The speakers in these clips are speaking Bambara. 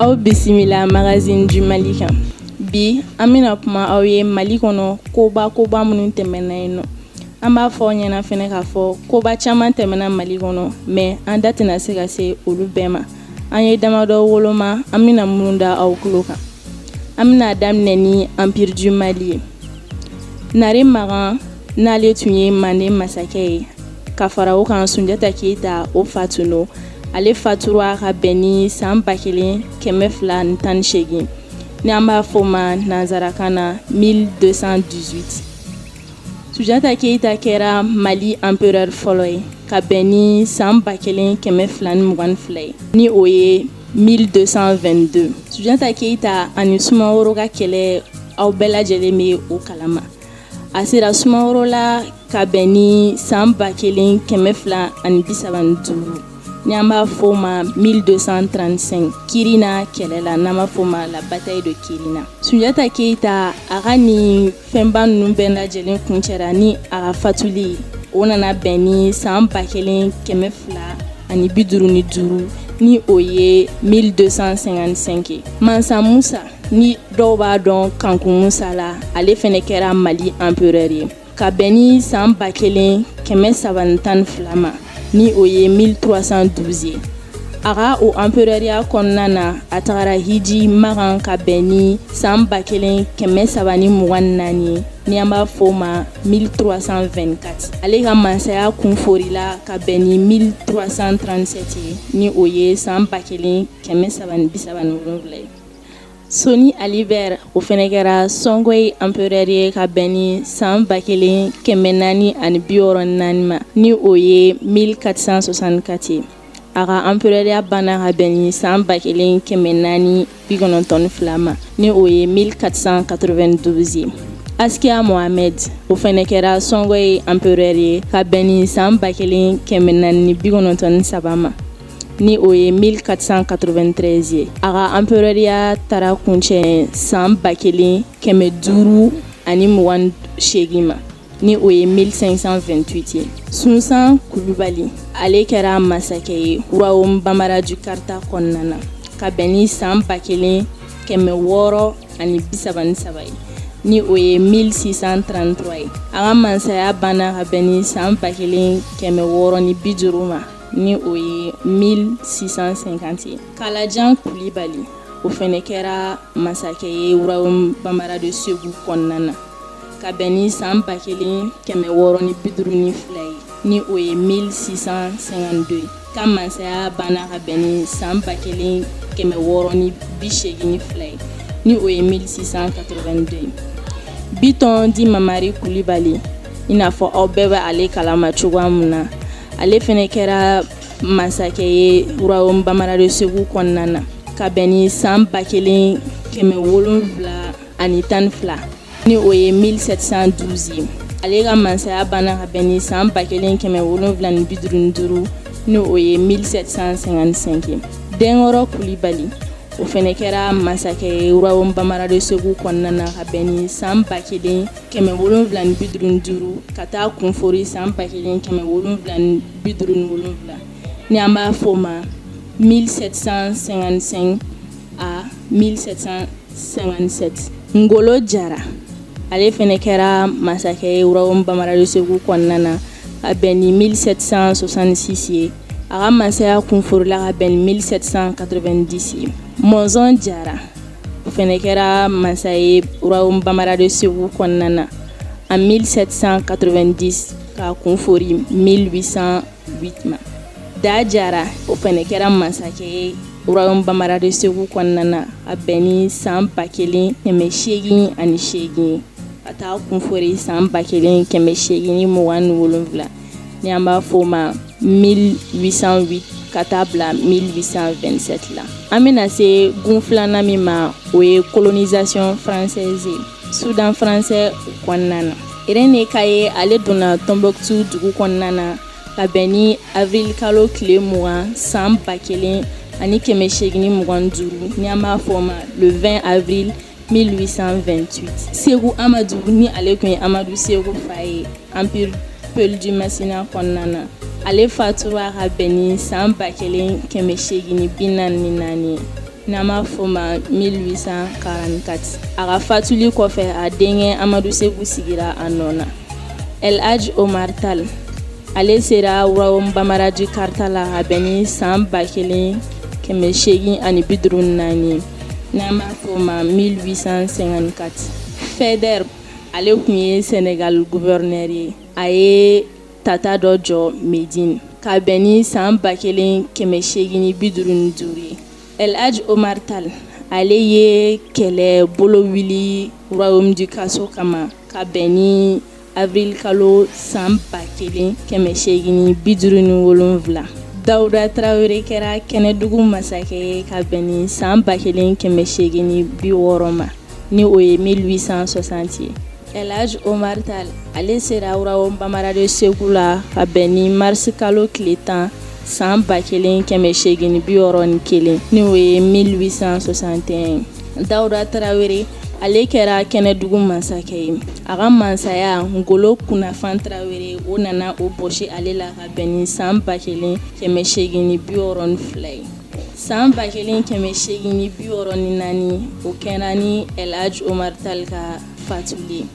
aw bisimila magazine du mali kan bi an bɛna kuma aw ye mali kɔnɔ koba koba minnu tɛmɛna yen nɔ an b'a fɔ aw ɲɛna fɛnɛ k'a fɔ koba caman tɛmɛna mali kɔnɔ mais an da tɛna se ka se olu bɛɛ ma an ye damadɔ woloma an bɛna minnu da aw tulo kan an bɛna daminɛ ni empire du mali ye nare magan n'ale tun ye manden masakɛ ye ka fara o kan sunjata keyita o fa tun don ale fatura ka bɛn ni san ba kelen kɛmɛ fila ni tan ni segin ni an b'a fɔ ma nanzarakan na 1218 sunjata keyita kɛra mali empereur fɔlɔ ye ka bɛn ni san ba kelen kɛmɛ fila ni mugan fila ye ni o ye 1222 sunjata keyita ani sumaworo ka kɛlɛ aw bɛɛ lajɛlen bɛ o kalama a sera sumaworo la ka bɛn ni san ba kelen kɛmɛ fila ani bisaba ni duuru n'an b'a fɔ o ma 1235 kirina kɛlɛ la n'an b'a fɔ o ma la bataille de kirina sunjata keyita a ka nin fɛnba ninnu bɛɛ lajɛlen kuncɛra ni a ka fatuli o nana bɛn ni san ba kelen kɛmɛ fila ani bi duuru ni duuru ni o ye 1255 mansa musa ni dɔw b'a dɔn kanku musa la ale fɛnɛ kɛra mali empereur ye ka bɛn ni san ba kelen kɛmɛ saba tan fila ma ni o ye 1312 ye a ka o empereuriya kɔnɔna na a tagara hiji makan ka bɛn ni san ba kelen kɛmɛ saba ni mugan naani ye ni an b'a fɔ o ma 1324 ale ka masaya kun foorila ka bɛn ni 1337 ye ni o ye san ba kelen kɛmɛ saba bisaba ni wolonfila ye Sɔni Ali Ber o fɛnɛ kɛra sɔngɔyi empereur ye ka bɛn ni san ba kelen kɛmɛ naani ani bi wɔɔrɔ naani ma ni o ye 1464 ye a ka empereuriya banna ka bɛn ni san ba kelen kɛmɛ naani bikɔnɔntɔn fila ma ni o ye 1492 ye askia mohamed o fɛnɛ kɛra sɔngɔyi empereur ye ka bɛn ni san ba kelen kɛmɛ naani bi kɔnɔntɔn saba ma ni o ye 1493 ye a ka empereuriya taara kuncɛ san ba kelen kɛmɛ duuru ani mugan segin ma ni o ye 1528 ye sunsan kulubali ale kɛra masakɛ ye royaume bambara du kaarta kɔnɔna na ka bɛn ni san ba kelen kɛmɛ wɔɔrɔ ani bisaba ni saba ye ni o ye 1633 ye a ka masaya banna ka bɛn ni san ba kelen kɛmɛ wɔɔrɔ ni biduuru ma ni o ye 1650 ye kalajan kulibali o fɛnɛ kɛra masakɛ ye royaume bambara de segu kɔnɔna na ka bɛn ni san ba kelen kɛmɛ wɔɔrɔ ni bi duuru ni fila ye ni o ye 1652 ye a ka masaya banna ka bɛn ni san ba kelen kɛmɛ wɔɔrɔ ni bi seegin ni fila ye ni o ye 1682 ye bitɔn dit mamari kulibali i n'a fɔ aw bɛɛ bɛ ale kalama cogoya min na ale fɛnɛ kɛra masakɛ ye royaume bambara de segu kɔnɔna na ka bɛn ni san ba kelen kɛmɛ wolon wolonwula ani tan fila ni o ye 1712 ye ale ka masaya banna ka bɛn ni san ba kelen kɛmɛ wolonwula ni bi duuru duuru ni o ye 1755 ye denkɔrɔ kulibali o fɛnɛ kɛra masakɛ ye royaume bambara de segu kɔnɔna na ka bɛn ni san ba kelen kɛmɛ wolonwula ni bi duuru duuru ka taa kunfori san ba kelen kɛmɛ wolonwula ni bi duuru ni wolonwula ni an b'a fɔ o ma 1755 à 1757 ngolo jara ale fɛnɛ kɛra masakɛ ye royaume bambara de segu kɔnɔna na ka bɛn ni 1766 ye a ka masaya kunforila ka bɛn ni 1790 ye mɔnzɔn jara o fɛnɛ kɛra masa ye royaume bambara de segu kɔnɔna na en 1790 ka kunfori 1808 ma da jara o fɛnɛ kɛra masakɛ ye royaume bambara de segu kɔnɔna na a bɛn ni san ba kelen kɛmɛ seegin ani seegin ye ka taa kunfori san ba kelen kɛmɛ seegin ni mugan ni wolonwula ni an b'a fɔ o ma 1808 ka taa bila 1827 la an bɛna se gun filanan min ma o ye colonisation française ye soudan français kɔnɔna na René Caillié ale donna Tombouctou dugu kɔnɔna na ka bɛn ni avril kalo tile mugan san ba kelen ani kɛmɛ seegin ni mugan duuru ni an b'a fɔ o ma le 20 avril 1828 seku amadu ni ale tun ye amadu seku fa ye empire peul du masina kɔnɔna na ale fatura ka bɛn ni san ba kelen kɛmɛ seegin ni bi naani ni naani n'an b'a fɔ ma 1844 a ka fatuli kɔfɛ a denkɛ amadu seku sigira a nɔ na el haj omar tal ale sera royaume bambara du kaarta la ka bɛn ni san ba kelen kɛmɛ seegin ani bi duuru naani n'an b'a fɔ o ma 1854 faidherbe ale tun ye sénégal gouverneur ye a ye tata dɔ jɔ médine ka bɛn ni san ba kelen kɛmɛ seegin ni bi duuru ni duuru ye el haj omar tal ale ye kɛlɛ bolo wuli royaume du khasso kama ka bɛn ni avril kalo san ba kelen kɛmɛ seegin bi duuru ni wolonwula dawuda tarawele kɛra kɛnɛdugu masakɛ ye ka bɛn ni san ba kelen kɛmɛ seegin bi wɔɔrɔ ma ni o ye 1860 ye Elhadj Omar Tall ale sera Royaume Bambara de Segu la ka bɛn ni mars kalo tile tan san ba kelen kɛmɛ seegin bi wɔɔrɔ ni kelen n'o ye 1861 ye Dawuda Tarawele, ale kɛra kɛnɛdugu masakɛ ye. A ka mansaya Ngolo Kunafan Tarawele o nana o bɔsi ale la ka bɛn ni san 1862 ye. San 1864 o kɛra ni Ɛlhadji Omar Tall ka fatuli ye.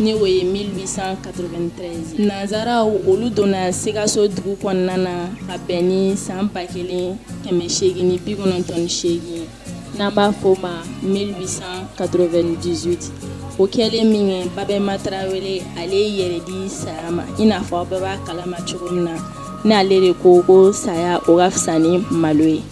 ni o ye 1893 nanzaraw olu donna sikaso dugu kɔnɔna na ka bɛn ni san ba kelen kɛmɛ seegin ni bi kɔnɔntɔn ni seegin n'an b'a fɔ ma 1898 o kɛlen minkɛ babɛma tarawele ale yɛrɛ di saya ma i n'a fɔ aw bɛɛ b'a kalama cogo min na n'ale de ko ko saya o ka fisa ni malo ye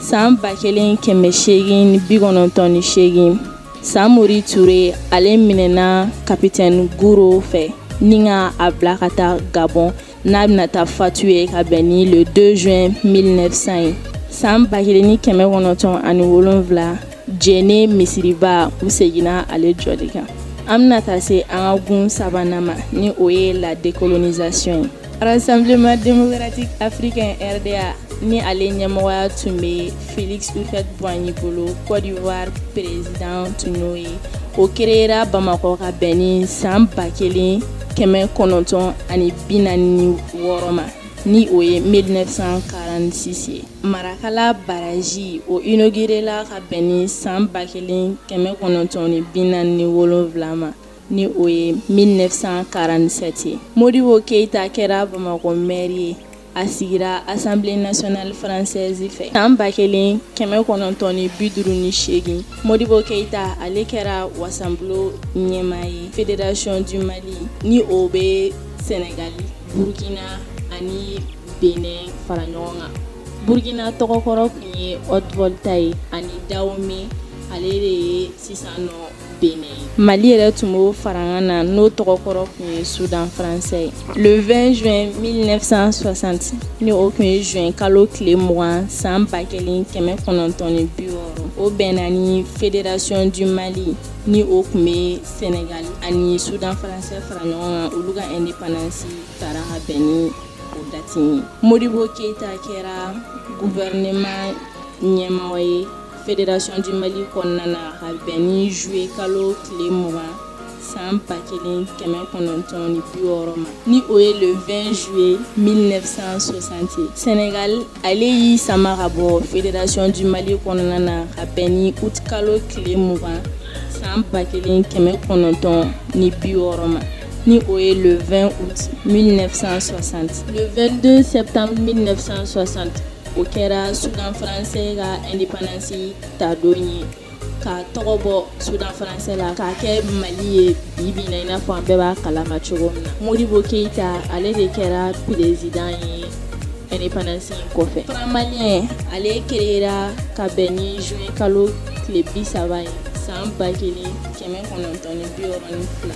san ba kelen kɛmɛ seegin ni bi kɔnɔntɔn ni seegin samori ture ale minɛna kapitɛni guro fɛ ni ka a bila ka taa gabɔn n'a bɛna taa fatu ye ka bɛn ni le 2 juin 1900 ye san ba kelen ni kɛmɛ kɔnɔntɔn ani wolonfila jene misiriba u seginna ale jɔli kan an bɛna taa se an ka gun sabanan ma ni o ye la décolonisation ye Rassemblement démocratique africain RDA ni ale ɲɛmɔgɔya tun bɛ Félix Houphouët-Boigny bolo Côte d'Ivoire président tun y'o ye, o créera Bamakɔ ka bɛn ni san 1946 ma ni o ye 1946 ye, Marakala barrage o inaugurela ka bɛn ni san 1947 ma ni o ye 1947 ye Modibo Keyita kɛra Bamakɔ maire ye a sigira assemblée nationale française fɛ san 1958 Modibo Keyita ale kɛra wasabulon ɲɛmaa ye fédération du Mali ni o bɛ Sénégal Burkina ani Benin fara ɲɔgɔn kan Burkina tɔgɔ kɔrɔ tun ye Haute-Volta ye ani Dahomey ale de ye sisan nɔ Mali yɛrɛ tun b'o farankan na n'o tɔgɔ kɔrɔ tun ye Sudan français ye le 20 juin 1960 ni o tun ye juin kalo tile mugan san ba kelen kɛmɛ kɔnɔntɔn bi wɔɔrɔ o bɛnna ni fédération du Mali ni o tun bɛ sɛnɛgali ani Sudan français fara ɲɔgɔn kan olu ka indépendance tara ka bɛn ni o dati in ye Modibo keyita kɛra gouvernement ɲɛmɔgɔ ye Fédération du Mali kɔnɔna na ka bɛn ni zuye kalo tile mugan san ba kelen kɛmɛ kɔnɔntɔn ni bi wɔɔrɔ ma ni o ye le 20 juillet 1960 sɛnɛgali ale y'i sama ka bɔ Fédération du Mali kɔnɔna na ka bɛn ni utikalo tile mugan san ba kelen kɛmɛ kɔnɔntɔn ni bi wɔɔrɔ ma ni o ye le 20 août 1960 le 22 septembre 1960 o kɛra sudan faransɛ ka independance ta don ye k'a tɔgɔ bɔ sudan faransɛ la k'a kɛ mali ye bi bi na i n'a fɔ an bɛɛ b'a kalama cogo min na modibo keyita ale de kɛra perezidan ye independance in kɔfɛ franc malien ale kereyera ka bɛn ni juin kalo tile bi saba ye san ba kelen kɛmɛ kɔnɔntɔn ni bi wɔɔrɔ ni fila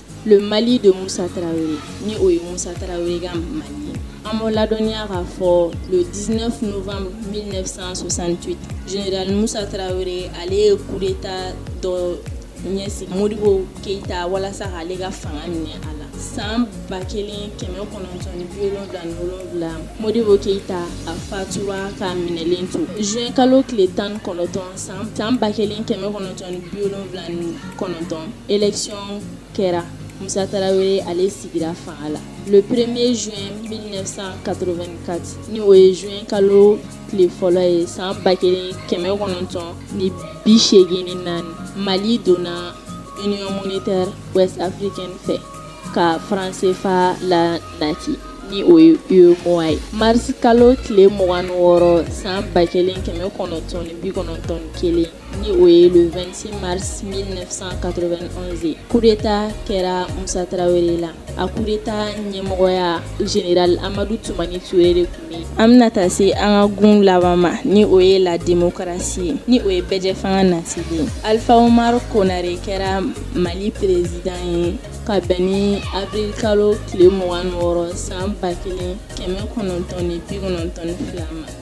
mali don musa ni o ye musa an ma ladɔnya ka fɔ diinɛfan mi fisasan musa ale ye kota dɔ ɲɛsin moribo keyita walasa ale ka fanga minɛ a la san ba kelen kɛmɛ kɔnɔntɔnwula moribo keyita a fa ka minɛlen to z kalo tile tan kɔnɔntɔn san tan ba kelen kɛmɛ kɔnɔntɔn wolonwula kɔnɔntɔn election kɛra Musa Tarawele ale sigira fanga la le premier juin 1984 ni o ye juin kalo tile fɔlɔ ye san ba kelen kɛmɛ kɔnɔntɔn ni bi seegin ni naani Mali donna Union monétaire ouest africaine fɛ ka franc CFA lanati ni o ye UEMOA ye mars kalo tile mugan ni wɔɔrɔ san ba kelen kɛmɛ kɔnɔntɔn ni bi kɔnɔntɔn ni kelen ni o ye le 26 mars 1991 ye coup d'Etat kɛra Musa Tarawele la, a coup d'Etat ɲɛmɔgɔya General Amadu Tumani Ture de tun bɛ yen, an bɛna taa se an ka gun laban ma ni o ye la democratie ye ni o ye bɛɛjɛ fanga nasili ye, Alifa Umaru Konare kɛra Mali President ye ka bɛn ni avril kalo tile 26 san 1992 ma.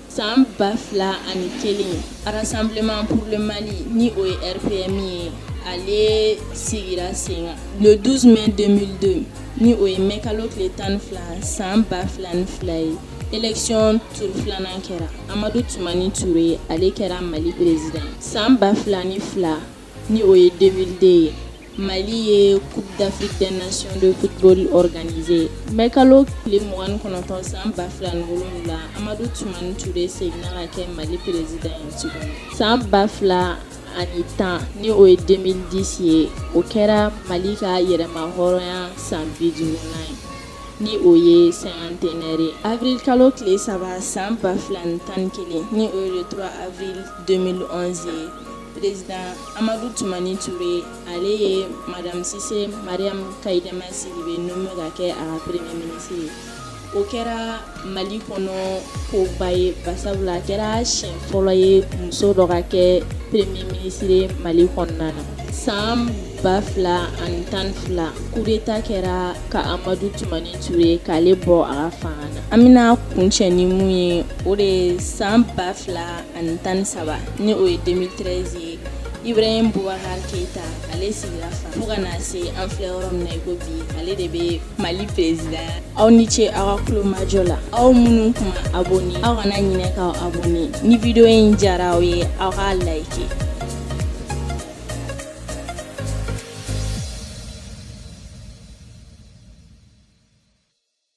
San ba fila ani kelen sanbilenman pmani ni o ye p min ye ale sigira sen don dus bɛ denmisɛnnin ni o ye mɛ kalo tile tan ni fila san ba fila ni fila ye econ tu filanan kɛra amadu tun ni t ye ale kɛra mali peresi san ba fila ni fila ni o ye denmisɛnninden ye Mali ye coupe d'Afrique des nations de football organisé mai kalo tile mugan ni kɔnɔntɔn san ba fila ni wolonwula Amadu Tumani Ture seginna ka kɛ Mali président ye tuguni san ba fila ani tan ni o ye 2010 ye o kɛra Mali ka yɛrɛma hɔrɔnya san bi duurunan ye ni o ye cinquantenaire ye avril kalo tile saba san ba fila ni tan ni kelen ni o ye le 3 avril 2011 ye Président Amadou Toumani Touré ale ye madame Cissé Mariam Kaïdama Sidibé nommé ka kɛ a ka Premier ministre ye. O kɛra Mali kɔnɔ ko ba ye barisabula a kɛra siɲɛ fɔlɔ ye muso dɔ ka kɛ Premier ministre Mali kɔnɔna na. San 2012 coup d'Etat kɛra ka Amadou Toumani Touré k'ale bɔ a ka fanga na. An bɛna kuncɛ ni mun ye, o de ye san 2000 ani tan ni saba ni o ye 2013 ye Ibrahim Boubacar Keita ale sigira fanga fo ka na se an filɛ yɔrɔ min na i ko bi ale de bɛ Mali président aw ni ce aw ka kulomajɔ la aw minnu kun ma abonné aw kana ɲinɛ k'aw abonné ni vidéo in diyara aw ye aw k'a like